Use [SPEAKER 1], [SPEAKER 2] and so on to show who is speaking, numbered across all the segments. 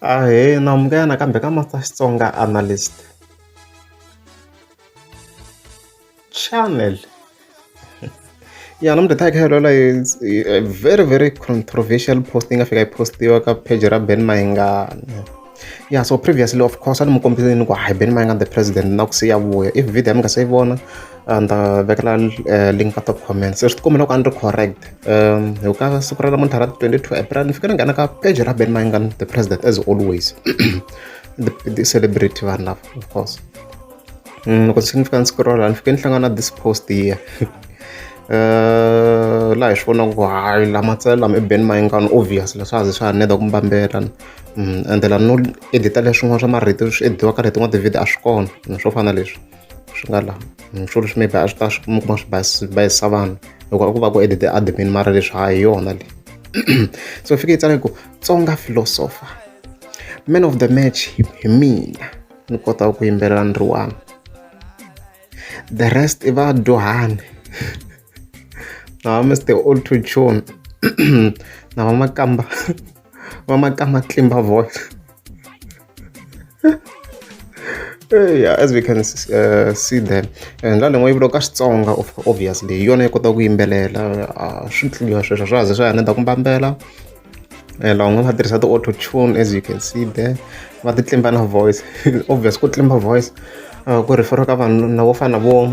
[SPEAKER 1] Ahee na amukela nakambe ka Master Xitsonga Analyst channel ya namuntlha hi ta hi kha hi lwela hi very very controversial post yi nga fika yi postiwa ka page ra Ben Mayengani ya so previously of course a ni mu kombisile ni ku hi Ben Mayengani the president na ku siya vuya if video ya mi nga se yi vona and uh, vekela uh, link ka top comments swi tikomela ku a ni ri correct um hi ka siku ra namuntlha ra 22 april ni fike ni nghena ka page ra ben mangan the president as always the, the celebrity vanhu lava of course mm, loko ndzi fika ndzi scrolla ni fike ni hlangana this post here Eh, laha hi swi vonaka ku hayi lama tsele lama i ben mayingano obvious leswi a ze swa ha neda ku mbambela mm, ende la no edita leswin'wana swa marito swi ediwaka rito n'wa tivhidi a swi kona swo fana leswi swi nga la swilo leswi maybe a swi ta swi kuma kuma swi basi bayisa vanhu loko a ku va ku edit admin mara leswi ha hi yona leyi so fike yi tsala ku tsonga philosopher man of the match hi mina ni kotaka ku yimbelela ni ri one the rest i vadyuhani na va mr old to tune na va makamba va ma ka matimba voice yeah as we can uh, see there and la lengwe yi vuriwa ka xitsonga obviously hi yona yi kotaka ku yimbelela uh, swi tliliwa sweswo swa ze swa hina ta ku mbambela eh, lavan'we va tirhisa ti-auto tune as you can see there va ti tlimba na voice obvious ku tlimba voice uh, ku referiwa ka vanhu na vo fana vo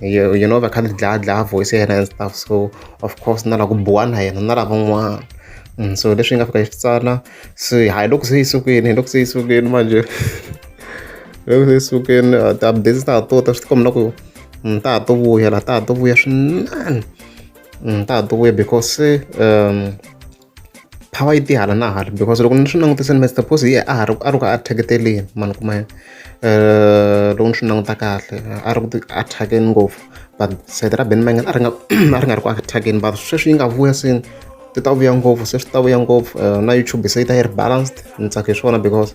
[SPEAKER 1] you, you know va kha ni dlaya dlaya voice ya yena and stuff so of course na la ku buwa na yena na lavan'wana mm, so leswi yi nga fika yi swi tsala so hayi loko se yi sukeni hi loko se yi sukeni manje loko se yi sukeni uh, ti-updates ta ha to ta swi tikomela ku mm, ta ha to vuya la ta ha to vuya swinene mm, ta ha to vuya because um power yi ti hala na hala because loko ni swi langutise ni mr pose ye a ha ri a ri ku attaketeleni mani kuma yena um loko ni swi languta kahle a ri ku ti attackeni ngopfu but sayiti ra ben mangan a ri nga a ri nga ri ku attackeni but sweswi yi nga vuya se ti ta vuya ngopfu se swi ta vuya ngopfu eh, na youtube se yi ta yi ri balanced ni tsake hi swona because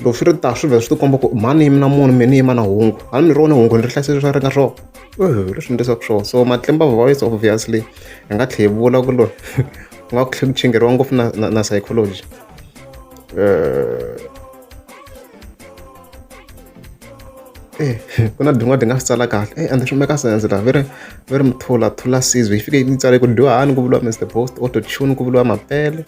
[SPEAKER 1] loko swi ri ta swi vhela swi ti komba ku mhani yimi na munhu mina yima na hungu hali mi ri wona hungu ni ri hlayisile swa ri nga swona leswi ndlesaka swona so matimba voice obviously hi nga tlhe hi vula ku loyi ku nga ku tlhe ku chingeriwa ngopfu na, na, na psychology eh, eh ku na din'wana ti nga swi tsala kahle eh and swi meka sense laha veri veri mithula thula sizwe yi fike yi tsale ku dyohani ku vuriwa mr post auto tune ku vuriwa mapele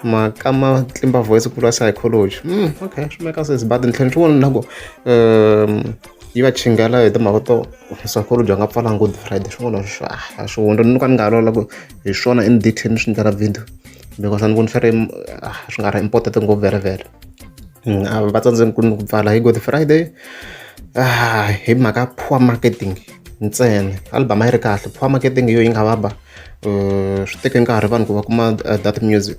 [SPEAKER 1] maka ma tlimba voice ku vuriwa psychology mm okay swi meka sense but ntlheni swin'wana na ku um yi va chingela hi timhaka to swakudya va nga pfalanga good friday swin'wana swa a swi hundza ni ka ni nga loloka hi swona in detail ni swi endlela video because a ni voni swi ri ah, swi nga ri important ngopfu vere vere mm, a va tsandzeni ku ni ku pfala hi good friday ah, hi mhaka poor marketing ntsena album a yi ri kahle poor marketing yo yi nga va ba eh, swi teke nkarhi vanhu ku va kuma eh, that music